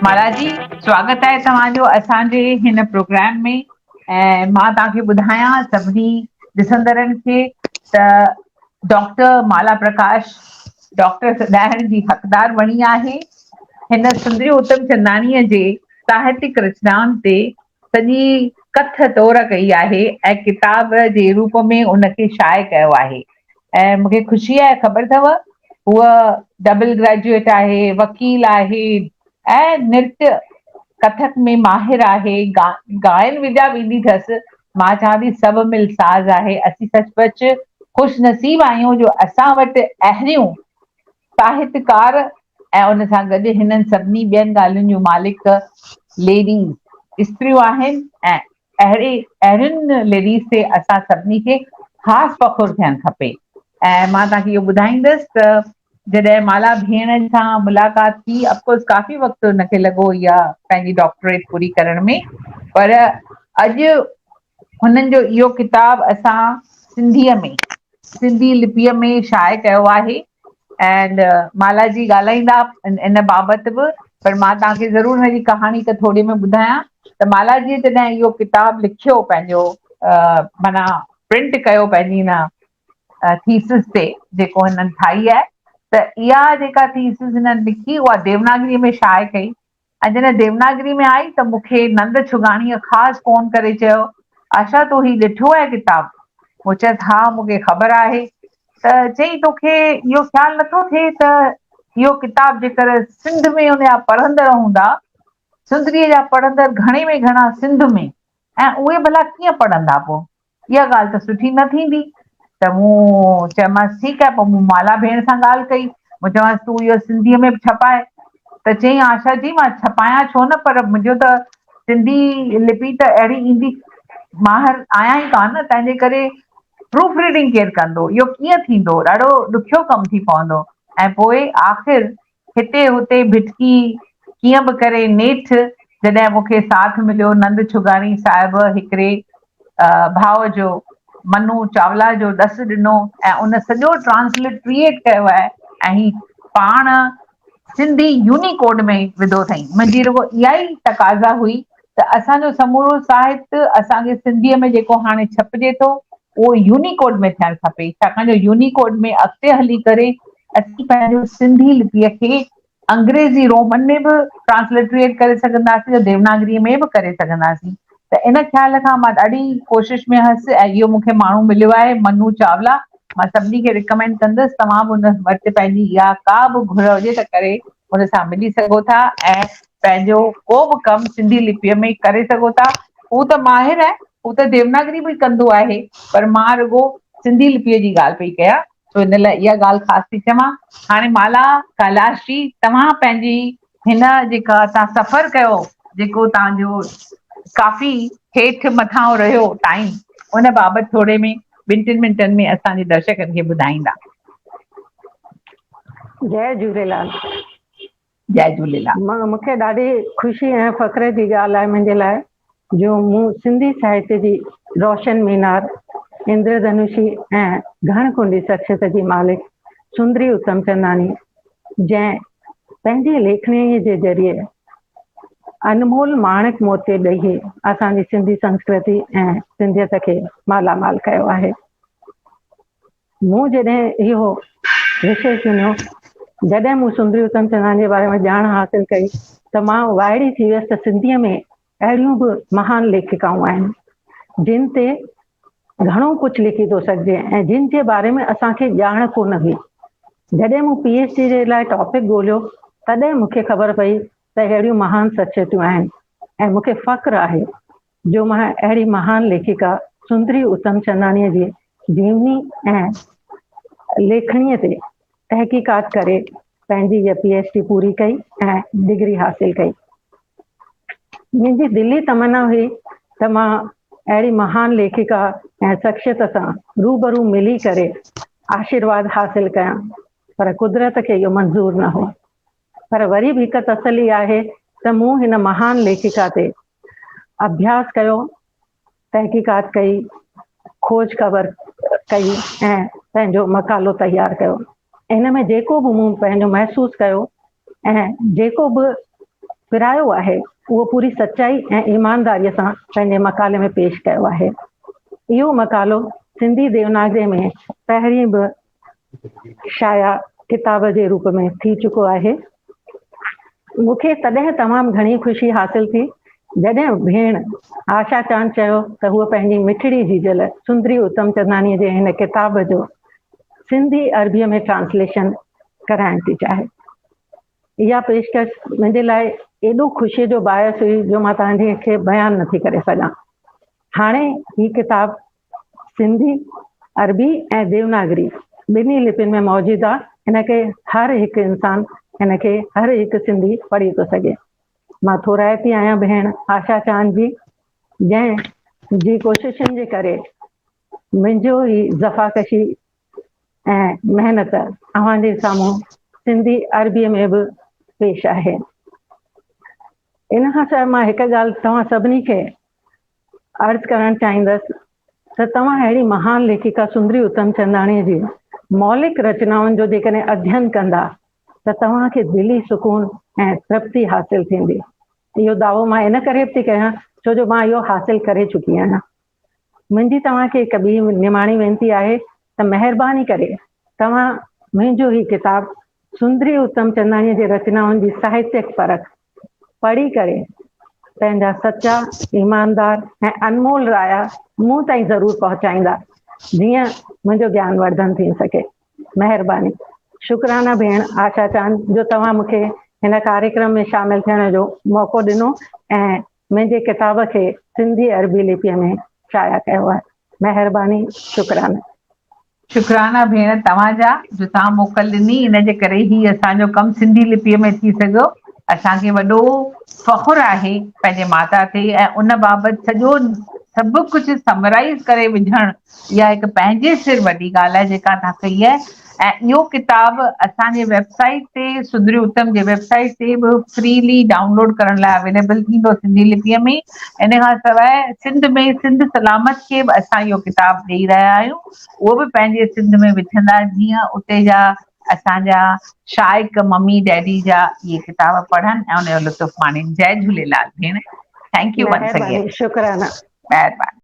مھاراج جي سواگت آھي توھان جو اسان جي ھن پروگرام ۾ ۽ مان توھان کي ٻڌايان سڀني ڏسندڙن کي ته ڊاڪٽر مالا پرڪاش ڊاڪٽر سڏائڻ جي حقدار بڻي آھي ھن سندري اتم چنداڻي جي ساھتڪ رچنائن تي سڄي ڪٿ تور ڪئي آهي ۽ ڪتاب جي روپ ۾ ان کي شايع ڪيو آهي ۽ مون کي خوشي آهي خبر اٿو هوء ڊبل گريجوئيٽ آهي وڪيل آهي ۽ نرت ڪٿڪ ۾ ماهر آهي گا گائن وڄا به ايندي اٿس مان چوان ٿي سڀ مل ساز آهي اسين سچ پچ خوش نصيب آهيون جو اسان وٽ اهڙيون ساهتڪار ۽ ان سان گڏ هنن سڀني ٻين ڳالهين جون مالڪ ليڊيز، استريون، آهن ۽ اهڙي اهڙين ليڊيز تي اسان سڀني کي خاص فخر ٿيڻ کپي ۽ مان توهان کي اهو ٻڌائيندس ته جڏهن مالا ڀيڻ سان ملاقات ٿي اف ڪورس ڪافي وقت ان کي لڳو اها پنهنجي ڊاڪٽريٽ پوري ڪرڻ ۾ پر اڄ هنن جو اهو ڪتاب اسان سنڌيء ۾، سنڌي لپيء ۾ شايع ڪيو آهي and مالا جي ڳالهائيندا ان بابت به پر مان توهان کي ضرور هن جي ڪهاڻي هڪ ٿوري ۾ ٻڌايان ته مالا جيء جڏهن اهو ڪتاب لکيو پنهنجو معنيٰ پرنٽ ڪيو پنهنجي هن ٿيسز تي جيڪو هنن ٺاهي آهي ته اها جيڪا ٿيسز هنن لکي اها ديوناگريء ۾ شايع ڪئي ۽ جڏهن ديوناگري ۾ آئي ته مون کي نند ڇڳاڻيء خاص فون ڪري چيو، آشا تو هي ڏٺو آهي ڪتاب؟ مون چيس، ها مون کي خبر آهي. ته چيائين توکي اهو خيال نٿو ٿئي ته اهو ڪتاب جيڪر سنڌ ۾ ان جا پڙهندڙ هوندا، سندريء جا پڙهندڙ گهڻي ۾ گهڻا سنڌ ۾، ۽ اهي ڀلا ڪيئن پڙهندا پو؟ اها ڳالهه ته سٺي نه ٿيندي. ته مون چيومانس ٺيڪ آهي. پو مون مالا ڀيڻ سان ڳالهه ڪئي. مون چيومانس تون اهو سنڌيء ۾ به ڇپاء. ته چيائين آشا جي مان ڇپايان ڇو نه پر منهنجو ته سنڌي لپي ته اهڙي ايندي ماهر آهيان ئي ڪانه نه تنهنجي ڪري پروف ريڊنگ ڪير ڪندو؟ اهو ڪيئن ٿيندو؟ ڏاڍو ڏکيو ڪم ٿي پوندو. ۽ پوء آخر هتي هتي ڀٽڪي، ڪيئن به ڪري نيٺ جڏهن مون کي ساٿ مليو نند ڇڳاڻي صاحب هڪڙي ڀاء جو، منو چاولا جو ڏس ڏنو ۽ ان سڄو ٽرانسلٽريٽ ڪيو آهي ۽ پاڻ سنڌي يونيڪوڊ ۾ وڌو اٿئين. منهنجي رڳو اها ئي تقاضا هئي ته اسان جو سمورو ساهت اسان جي سنڌيء ۾ جيڪو هاڻي ڇپجي ٿو اهو يونيڪوڊ ۾ ٿيڻ کپي ڇاڪاڻ جو يونيڪوڊ ۾ اڳتي هلي ڪري اسين پنهنجو سنڌي لپيء کي انگريزي رومن ۾ به ٽرانسلٽريٽ ڪري سگهنداسين ته ديوناگريء ۾ به ڪري سگهنداسين ته ان خيال کان مان ڏاڍي ڪوشش ۾ هيس ۽ اهو مون کي ماڻهو مليو آهي منو چاولا مان سڀني کي رڪمينڊ ڪندس توهان به ان وٽ پنهنجي اها ڪا به گهر هجي ته ڪري ان سان ملي سگهو ٿا ۽ پنهنجو ڪو به ڪم سنڌي لپيء ۾ ئي ڪري سگهو ٿا. هو ته ماهر آهي، هو ته ديوناگري به ڪندو آهي، پر مان رڳو سنڌي لپيء جي ڳالهه پئي ڪيان، سو ان لاء اها ڳالهه خاص ٿي چوان. هاڻي مالا ڪيلاش جي، توهان پنهنجي هن جيڪا توهان سفر ڪيو، جيڪو توهان جو ڪافي هيٺ مٿانهون رهيو ٽائيم، ان بابت ٿوري ۾ ٻن ٽن منٽن ۾ اسان جي درشڪن کي ٻڌائيندا. جئي جهوليلال. جئي جهوليلال. مون کي ڏاڍي خوشي ۽ فخر جي ڳالهه آهي منهنجي لاء جو مون سنڌي ساهتيه جي روشن مينار، اندر ڌنوشي ۽ گهڻ ڪنڊي شخصيت جي مالڪ سندري اتمچنداڻي جنهن پنهنجي ليکڻيء جي ذريعي انمول ماڻڪ موتي ڏيئي اسان جي سنڌي سنسڪرتي ۽ سنڌيت کي مالامال ڪيو آهي. مون جڏهن اهو وشي چونيو، جڏهن مون سندري اتم چنداڻي جي باري ۾ ڄاڻ حاصل ڪئي ته مان وائڙي ٿي ويس ته سنڌيء ۾ اهڙيون به مهان ليکڪائون آهن، جن تي گهڻو ڪجهه لکي ٿو سگهجي ۽ جن جي باري ۾ اسان کي ڄاڻ ڪونه هئي. جڏهن مون پي ايڇ ڊي جي لاء ٽاپڪ ڳوليو، تڏهن مون کي خبر پئي ته اهڙيون مهان شخصيتون آهن ۽ مون کي فخر آهي جو مان اهڙي مهان ليکڪا سندري اتمچنداڻيء جي جيوني ۽ ليکڻيء تي تحقيقات ڪري پنهنجي هيء پي ايڇ ڊي پوري ڪئي ۽ ڊگري حاصل ڪئي. منهنجي دلي تمنا هئي ته مان اهڙي مهان ليکڪا ۽ شخصيت سان روبرو ملي ڪري آشيرواد حاصل ڪيان پر قدرت کي اهو منظور نه هو. پر وري به هڪ تسلي آهي ته مون هن مهان ليکڪا تي اڀياس ڪيو، تحقيقات ڪئي، کوج خبر ڪئي ۽ پنهنجو مقالو تيار ڪيو. ان ۾ جيڪو به مون پنهنجو محسوس ڪيو ۽ جيڪو به پرايو آهي، اهو پوري سچائي ۽ ايمانداريء سان پنهنجي مقالي ۾ پيش ڪيو آهي. اهو مقالو سنڌي ديوناگري ۾ پهرين به شايع ڪتاب جي روپ ۾ ٿي چڪو آهي. مون کي تڏهن تمام گهڻي خوشي حاصل ٿي جڏهن ڀيڻ آشا چاند چيو ته هوء پنهنجي مٺڙي جيجل سندري اتم چنداڻي جي هن ڪتاب جو سنڌي عربي ۾ ٽرانسليشن ڪرائڻ ٿي چاهي اها پيشڪش منهنجي لاء ايڏو خوشي جو باعث هئي جو مان توهان کي بيان نٿي ڪري سگهان هاڻي هي ڪتاب سنڌي، عربي ۽ ديوناگري ٻنهي لپين ۾ موجود آ ان ڪري هر هڪ انسان ان کي هر هڪ سنڌي پڙهي ٿو سگهي. مان ٿورائتي آهيان ڀيڻ آشا چاند جي جنهن جي ڪوششن جي ڪري منهنجو هي زفاڪشي ۽ محنت اوهان جي سامهون سنڌي عربي ۾ به پيش آهي ان کان سواء مان هڪ ڳالهه توهان سڀني کي عرض ڪرڻ چاهيندس ته توهان اهڙي مهان ليکڪا سندري اتمچنداڻيء جي مولڪ رچنائن جو جيڪڏهن اڌين ڪندا ته توهان کي دلي سڪون ۽ ترپتي حاصل ٿيندي. اهو دعوو مان ان ڪري به ٿي ڪيان ڇو جو مان اهو حاصل ڪري چڪي آهيان. منهنجي توهان کي هڪ ٻي نماڻي وينتي آهي ته مهرباني ڪري توهان منهنجو هي ڪتاب سندري اتمچنداڻيء جي رچنائن جي ساهتيڪ پرک پڙهي ڪري پنهنجا سچا، ايماندار ۽ انمول رايا مون تائين ضرور پهچائيندا جيئن منهنجو گيان ورڌن ٿي سگهي. مهرباني. شڪرانه ڀيڻ آشا چاند جو توهان مون کي هن ڪاريڪرم ۾ شامل ٿيڻ جو موقعو ڏنو ۽ منهنجي ڪتاب کي سنڌي عربي لپيء ۾ شايع ڪيو آهي. مهرباني. شڪرانه. شڪرانا ڀيڻ توهان جا جو توهان موڪل ڏني ان جي ڪري هي اسان جو ڪم سنڌي لپيء ۾ ٿي سگهيو اسان کي وڏو فخر آهي پنهنجي ماتا تي ۽ ان بابت سڄو سڀ ڪجهه سمرائز ڪري وجهڻ اها هڪ پنهنجي سر وڏي ڳالهه آهي جيڪا توهان ڪئي آهي ۽ اهو ڪتاب اسان جي ويب سائيٽ تي سڌري اتم جي ويب سائيٽ تي به فريلي ڊائونلوڊ ڪرڻ لاء اويليبل ٿيندو سنڌي لپيء ۾ ان کان سواء سنڌ ۾ سنڌ سلامت کي به اسان اهو ڪتاب ڏيئي رهيا آهيون اهو به پنهنجي سنڌ ۾ وجهندا جيئن اتي جا اسانجا شائق ممي ڊيڊي جا اهي ڪتاب پڙهن ۽ ان جو لطف ماڻين جئي جهوليلال ڀيڻ ٿينڪ يو ونس اگين مهرباني شڪرانه مهرباني